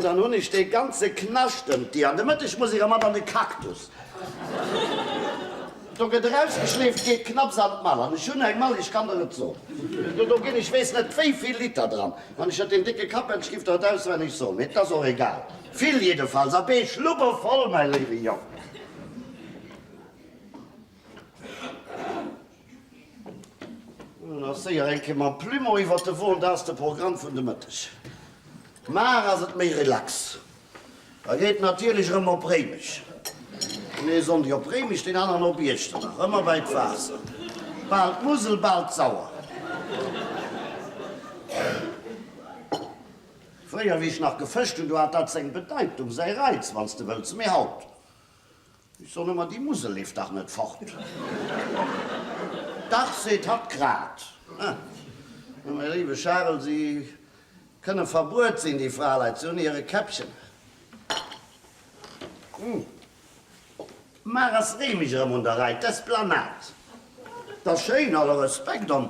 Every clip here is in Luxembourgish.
Dann hun ech dee ganze Knascht ëmt Dir an de Mëtteg muss ech era mat an de Cactus. Do gët erausgeschleeft, geet knapps an d'Mall an ech hun eng Mall, ech kann der et soen, do gin ech weess net wéivill Liter dran, wann ech der deen décke Kappelsch giff der et auswenneg soen, mee et as och egal, vill jiddefalls, a bee Schlubbe voll, mäi léiwe Jong. Nach séier eng Kéier mam Plumeau iwwert de Won, dat ass de Programm vun de Mëtteg. Mar ass et méi relax, da geet et natierlech erëm op Réimech. Den ee Sonndeg op Réimech, deen aneren op Iechternach, ëmmer bei d'Waasser. Bal d'Musel, bal d'Sauer. Fréier, wéi ech nach gefëscht hunn, do hat dat seng Bedeitung, säi Reiz, wann s de wëlls, mee haut? Ech soen ëmmer, déi Musel leeft dach net fort. Dach, seet hatt grad. Mä mäi léiwe Charel, si kënne verbuert sinn, déi Fraleit, se hunn hire Käppchen. Mar ass Réimech erëm un der Rei. D'Esplanade, dat ass schéin, alle Respekt. An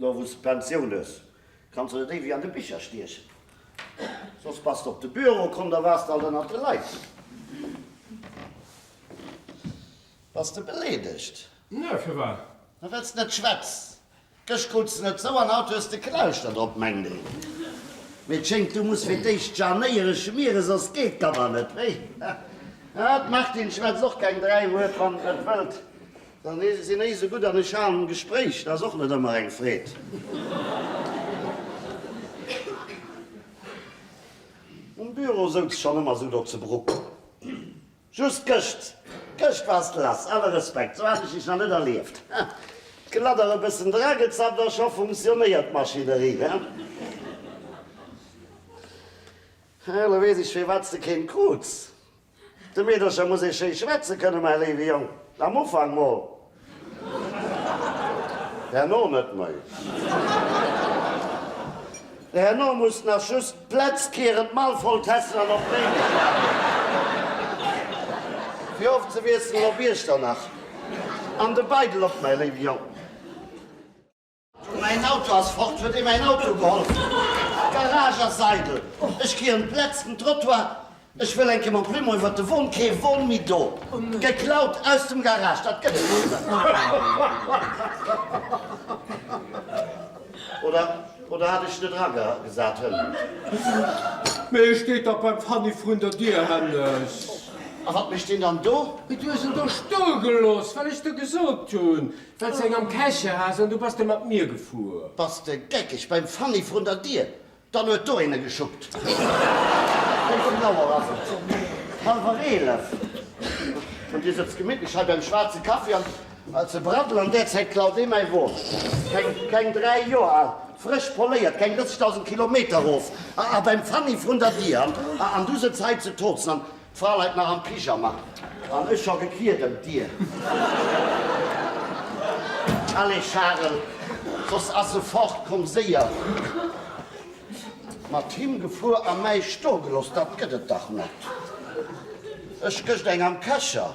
Lo wou s de Pensioun hues, kanns de net éiweg an de Bicher stiechen. Soss bass de op de Büro komm, da waars de alt ënnert de Leit. Bass de beleedegt? Nö, firwat? Ma well s de net schwätz. Gëscht krut s de net zou an haut hues de Knäuschter drop, mengt een. Mee et schéngt, du muss fir d'éischt Janéiere schmieren, soss geet d'Kammer net. Wéi? D'Martine schwätzt och keng dräi Wuert, wann s de net wëllt, Da sinn ech esou gutt an ech halen en Gespréich, dat ass och net ëmmer eng Freed. Um Büro souz ech schonn ëmmer sou do ze Bruck. Just gëscht, gëscht wars de lass, alle Respekt, sou hat ech dech nach net erlieft. D'Geladder e bëssen dra gezappt a scho funktionéiert d'Maschinerie. Elo weess ech firwat s de keen kruz. De Meedercher muss ee schéi schwätze kënne, mäi léiwe Jong. Am Ufank mol. Herno net méi. Herno muss nach just d'Plätz kieren, d'Mall voll tessen an op d'Méidesch waarden, fir ofzewiesselen op Iechternach. An de Beidel och, mäi léiwe Jong. Mäin Auto ass fort! Huet ee mäin Auto geholl? D'Garage ass eidel! Ech gi un d'letzten Trottoir! Ech wëll enke mam Plumeau iwwert de Won! Kee Won méi do! Geklaut aus dem Garage, dat gëtt et net! Oder hat ech net eragesat? Hënn! Mee e steet dach beim Fanny vrun der Dier, Hännes! A wat mécht deen dann do? Du hues en do stoe gelooss, well ech der gesot hunn, Well s eng am Käche has an du bass de mat mir gefuer. Bass de geckeg? Beim Fanny vrun der Dier? Dann huet do een e geschuppt. Wéi vill Auer ass et? Hallwer eelef. An dir sëtzt gemittlech hei beim schwaarze Kaffi an ze braddelen. An där Zäit klaut ee mäi Won. Keng dräi Joer al, frësch poléiert, keng 30.000 Kilometer erof a beim Fanny vrun der Dier. An du sëtzt hei ze tozen D'Fra leit nach am Pyjama an ech scho gekniet ëm d'Dier. Allez Charel, soss ass se fort, komm séier! Mat him gefuer a mäi stogeloss, dat gëtt et dach net! Ech gëscht eng am Kescher.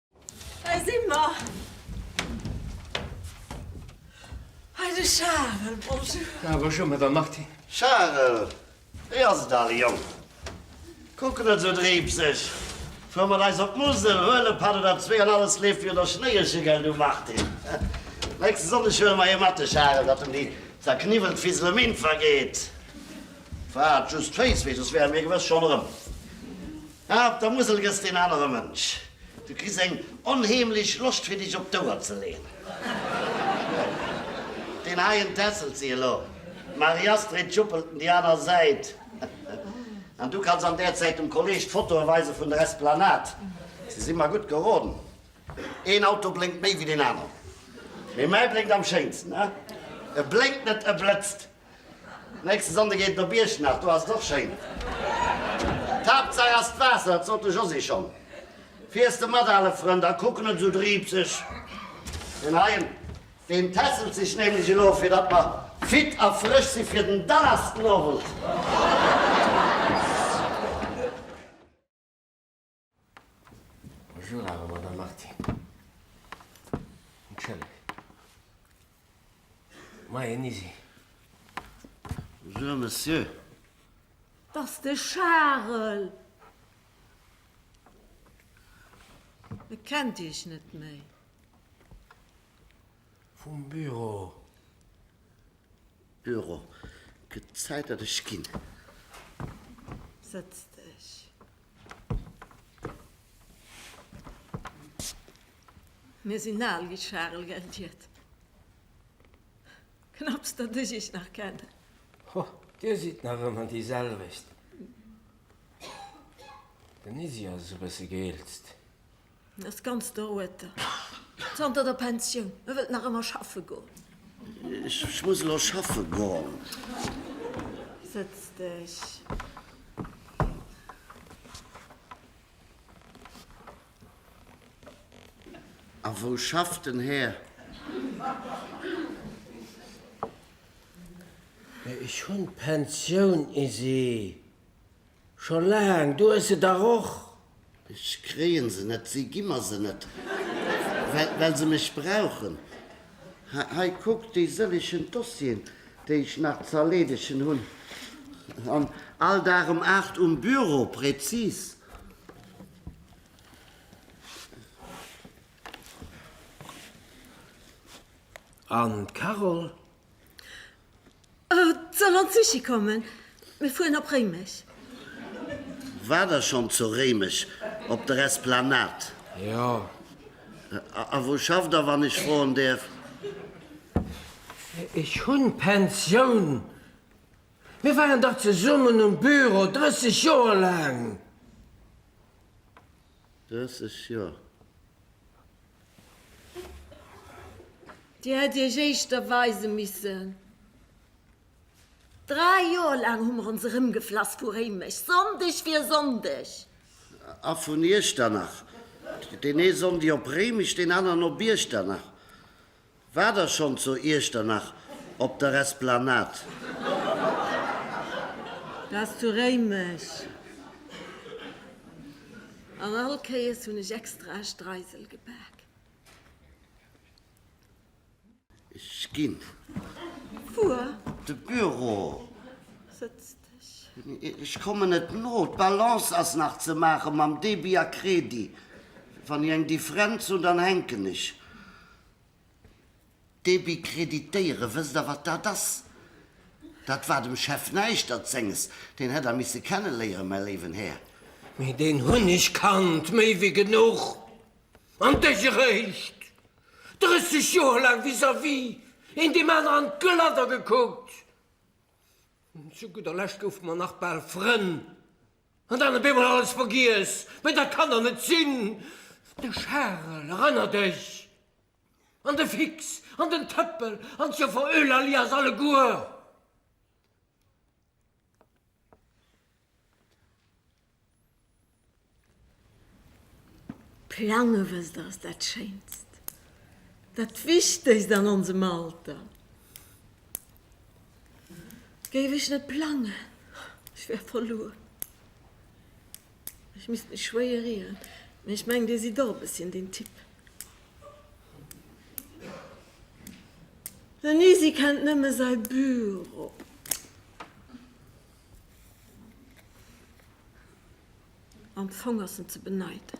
Hei si mer! Hei de Charel, bonjour! Ah, bonjour, Madame Martin. Charel, wéi ass et, ale Jong? Kuck net esou dreepseg! Fuer mat eis op d'Musel, huel e Pad oder zwee an alles leeft wieder der Schnéi eche, gell du Martin? Nächste Sonndeg huele mer hie mat, de Charel, datt em déi zerkniwwelt Fisel em Inn vergeet. Waart just d'Féiss wéi, soss wäre mir gewëss schonn erëm. Ah, op der Musel gëss de en anere Mënsch. Du kriss eng onheemlech Loscht fir dech op d'Ouer ze leeën. Deen heien tässelt si elo, d'Marie-Astrid juppelt en déi aner Säit an du kanns an där Zäit dem Kolleg d'Fotoe weise vun der Esplanade. Si si mer gutt geroden, een Auto blénkt méi wéi deen aneren, mee mäi blénkt am schéinsten. E blénkt net, e blëtzt. Nächste Sonnde geet et op Iechternach, do ass et och schéin. D'Haaptsaach ass d'Waasser, dat sot de Josy schonn. Fiers de mat, ale Frënd, a kuck net esou driipseg. Deen heien, deen tässelt sech nämlech elo, fir datt mer fit a frësch si fir den Dannersdenowend. Bonjour awer Madame Marti. Entschëlleg. Moien Isi. Bonjour Monsieur. T'ass de Charel. E kennt Iech net méi. Vum Büro. Euro. Gëtt Zäit datt ech ginn. Sëtz dech. Mir sinn al wéi d'Charel Geldiert. Knapps datt ech iech nach kennen. Ho, dir sidd nach ëmmer déi selwecht. Den Izzy ass esou bësse geelzt. En ass ganz der Rued. Zanter der Pensioun. E wëllt nach ëmmer schaffe goen. Ech muss elo schaffe goen. Sëtz dech. A wou schafft den Här? Ech hunn d'Pensioun, Isi. Scho laang, du hues se dach och! Ech kréien se net, si gi mer se net, well se mech brauchen. Hei, kuck, déi sëllechen Dossieren, déi ech nach ze erleedegen hunn. An all Dag um aacht um Büro, präzis. An d'Carole? Et soll an d'Süschi kommen. Mir fueren op Réimech. War der schonn zu Réimech op der Esplanade? Jo. A wou schafft der, wann ech froen däerf? Ech hunn Pensioun. Mir waren dach zesummen um Büro 30 Joer laang. 30 Joer? Dir hätt Iech éischter weise missen. Dräi Joer laang hu mer ons erëmgeflass vu Réimech, Sonndeg fir Sonndeg. A vun Iechternach. Deen ee Sonndeg op Réimech, deen aneren op Iechternach. War der schon zo Iechternach op der Esplanade? Wars zu Réimech? An all Kéiers hun ech extra e Streisel gebak. Ech gin. Wuer? De Büro. Sëtzt. Ech kommen net no. D'Balance ass nach ze maache mam Débit a Crédit. Wann ech eng Differenz hunn, dann hänken ech. Débit créditéieren, wësst Der wat dat ass? Dat war dem Chef näischt erzenges. Deen hätt Der misse kenneléieren, mäi léiwen Här. Mee deen hunn ech kannt, méi wéi genuch. An Dech eréischt 30 Joer laang vis-à-vis, een deem aneren an d'Gëlladder gekuckt. Zu gudder Lescht goufe mer nach bal Frënn, an dann op eemol alles vergiess. Mee dat kann der net sinn! De Charel, eranner dech! An de Fix, an den Tëppel, an d'Joffer Eulalie, eis alleguer! Plange, wësst Der, ass dat Schéinst, dat Wichtegst an onsem Alter. Géif ech net plangen, ech wär verluer. Ech misst mech schwéier rieren, mee ech mengen, Dir sidd och e bësschen deen Typ. Den Isi kennt nëmme säi Büro. Am Fong ass en ze beneiden.